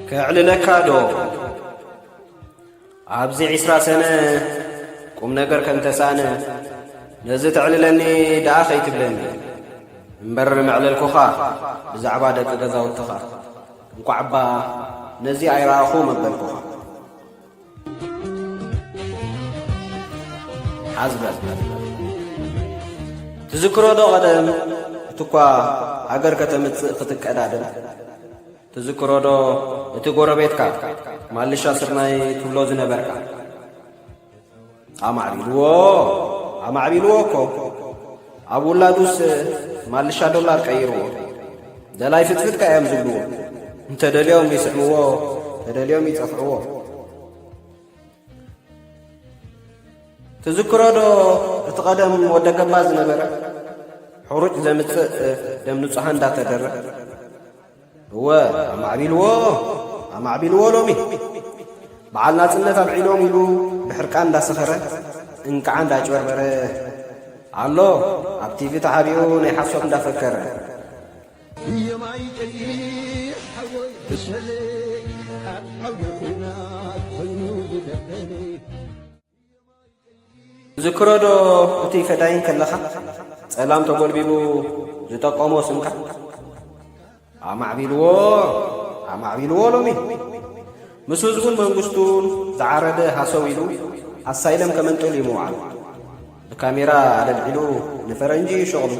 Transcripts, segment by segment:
ከዕልለካ ዶ ኣብዚ ዕስራ ሰነ ቁም ነገር ከም ተሳእነ ነዚ ተዕልለኒ ደኣ ኸይትብለኒ እምበር መዕለልኩኻ ብዛዕባ ደቂ ገዛውትኻ እንቋዕ እባ ነዚ ኣይረኣኹ መበልኩኻ ሓዝ በል ትዝክሮ ዶ ቐደም እቲ እኳ ሃገር ከተምጽእ ክትቀዳደም ትዝክሮ ዶ እቲ ጎረቤትካ ማልሻ ስርናይ ትብሎ ዝነበርካ ኣማዕቢልዎ ኣማዕቢልዎ እኮ ኣብ ውላዱስ ማልሻ ዶላር ቀይርዎ ደላይ ፍትፍትካ እዮም ዝብልዎ እንተደልዮም ይስዕምዎ ተደልዮም ይጸፍዕዎ ትዝክሮ ዶ እቲ ቐደም ወደ ገባ ዝነበረ ሕሩጭ ዘምጽእ ደም ንጹሓ እንዳተደረ እወ ኣማዕቢልዎ ኣማዕቢልዎ ሎሚ በዓል ናጽነት ኣብዒሎም ኢሉ ብሕርቃን እንዳሰኸረ እንቅዓ እንዳጭበርበረ ኣሎ ኣብ ቲቪ ተሓቢኡ ናይ ሓሶት እንዳፈከረ የማይ ቀይሕ ሓወይ ብሰለይ ኣብ ዓውደ ኲናት ኮይኑ ዝደበኒ ዝክሮዶ እቲ ፈዳይን ከለኻ ጸላም ተጎልቢቡ ዝጠቀሞ ስምካ ኣማዕቢልዎ ኣማዕቢልዎ ሎሚ ምስ ህዝቡን መንግስቱን ዝዓረደ ሃሰው ኢሉ ኣሳይለም ከመንጥል እዩ ምውዓሉ ብካሜራ ኣለልዒሉ ንፈረንጂ ሸቕሉ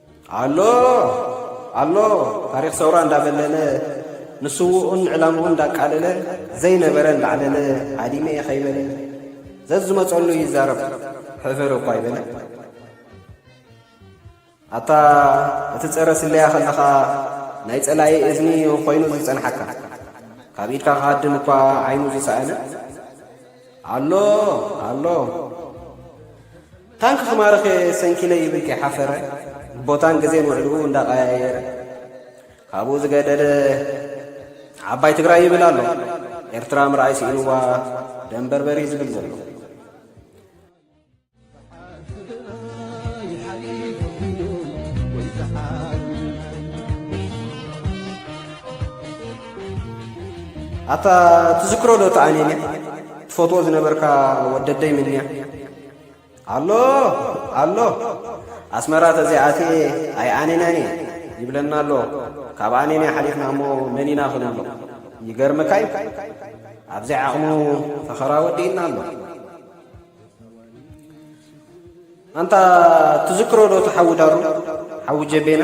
ኣሎ ኣሎ ታሪኽ ሰውራ እንዳበለለ ንስውኡን ዕላምኡን እንዳቃለለ ዘይነበረ እንዳዕለለ ዓዲመ እየ ከይበለ ዘዝመጸሉ ይዛረብ ሕፍር እኳ ይበለ ኣታ እቲ ጸረ ስለያ ከለኻ ናይ ጸላኢ እዝኒ ኾይኑ ዝጸንሓካ ካብ ኢድካ ክሃድም እኳ ዓይኑ ዝሰኣነ ኣሎ ኣሎ ታንኪ ክማርኽ እየ ሰንኪለ ይብል ከይሓፈረ፣ ቦታን ግዜን ውዕልኡ እንዳቐያየረ። ካብኡ ዝገደደ ዓባይ ትግራይ ይብል ኣሎ። ኤርትራ ምርኣይ ስኢንዋ ደም በርበሪ ዝብል ዘሎ። ኣታ ትዝክሮ ዶ ተኣኔንያ ትፈትዎ ዝነበርካ ወደደይ ምንያ ኣሎ ኣሎ ኣስመራ ተዘይኣትየ ኣይኣኔናን እየ ይብለና ኣሎ ካብ ኣኔና ሓሊፍና እሞ መን ኢና ክንብሎ ይገርመካ እዩ ኣብዘይ ዓቕሙ ፈኸራ ወዲእና ኣሎ ኣንታ ትዝክሮ ዶ ተሓዊ ዳሩ ሓዊ ጀቤና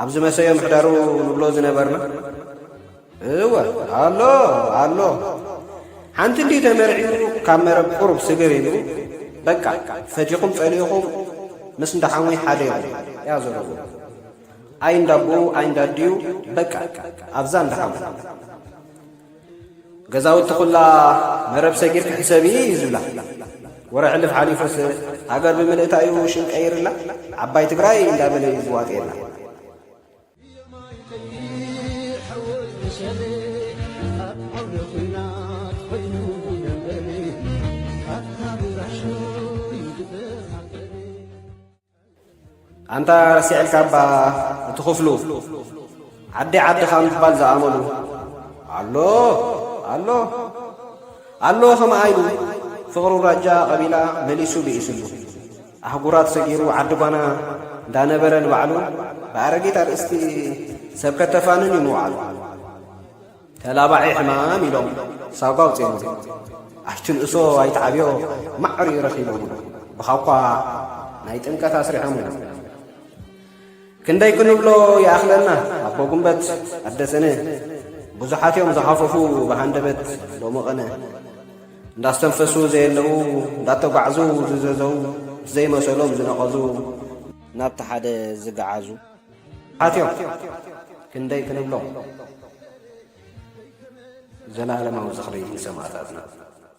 ኣብዚ መሰዮ ምሕዳሩ ንብሎ ዝነበርና እወ ኣሎ ኣሎ ሓንቲ እንዲ ተመርዒሩ ካብ መረብ ቁሩብ ስግር ኢሉ በቃ ፈቲኹም ጸሊኹም ምስ እንዳሓዊ ሓደ ኢኹም እያ ዘለዎ ኣይ እንዳቦኡ ኣይ እንዳድዩ በቃ ኣብዛ እንዳሓዊ ገዛውቲ ኹላ መረብ ሰጊር ክሕሰብ እዩ ዝብላ ወረ ሕልፍ ሓሊፉስ ሃገር ብምልእታ እዩ ሽም ቀይርላ ዓባይ ትግራይ እንዳበለ እዩ ዝዋጥየላ ኣንታ ረሲዐልካ እባ እቲ ክፍሉ ዓዲ ዓድኻ ምባል ዝኣመሉ ኣሎ ኣሎ ኣሎ ከምኣ ኢሉ ፍቕሩ ራጃ ቐቢላ መሊሱ ብኢስሉ ኣህጉራት ሰጊሩ ዓዲ ጓና እንዳነበረ ንባዕሉ ብኣረጊት ኣርእስቲ ሰብ ከተፋንን እዩ ምውዓሉ ተላባዒ ሕማም ኢሎም ሳጓ ውፅዮምሉ ኣይትንእሶ ኣይትዓብዮ ማዕሪ ረኺቦምሉ ብኻኳ ናይ ጥምቀት ኣስሪሖምሉ ክንደይ ክንብሎ ይኣኽለና ኣቦ ጉንበት ኣደ ሰነ ብዙሓት እዮም ዝሃፈፉ ብሃንደበት ሎሚ ቐነ እንዳስተንፈሱ ዘየለዉ እንዳተጓዕዙ ዝዘዘው ዘይመሰሎም ዝነቐዙ ናብቲ ሓደ ዝገዓዙ ኣትዮም ክንደይ ክንብሎም ዘለዓለማዊ ዝኽሪ ንሰማእታትና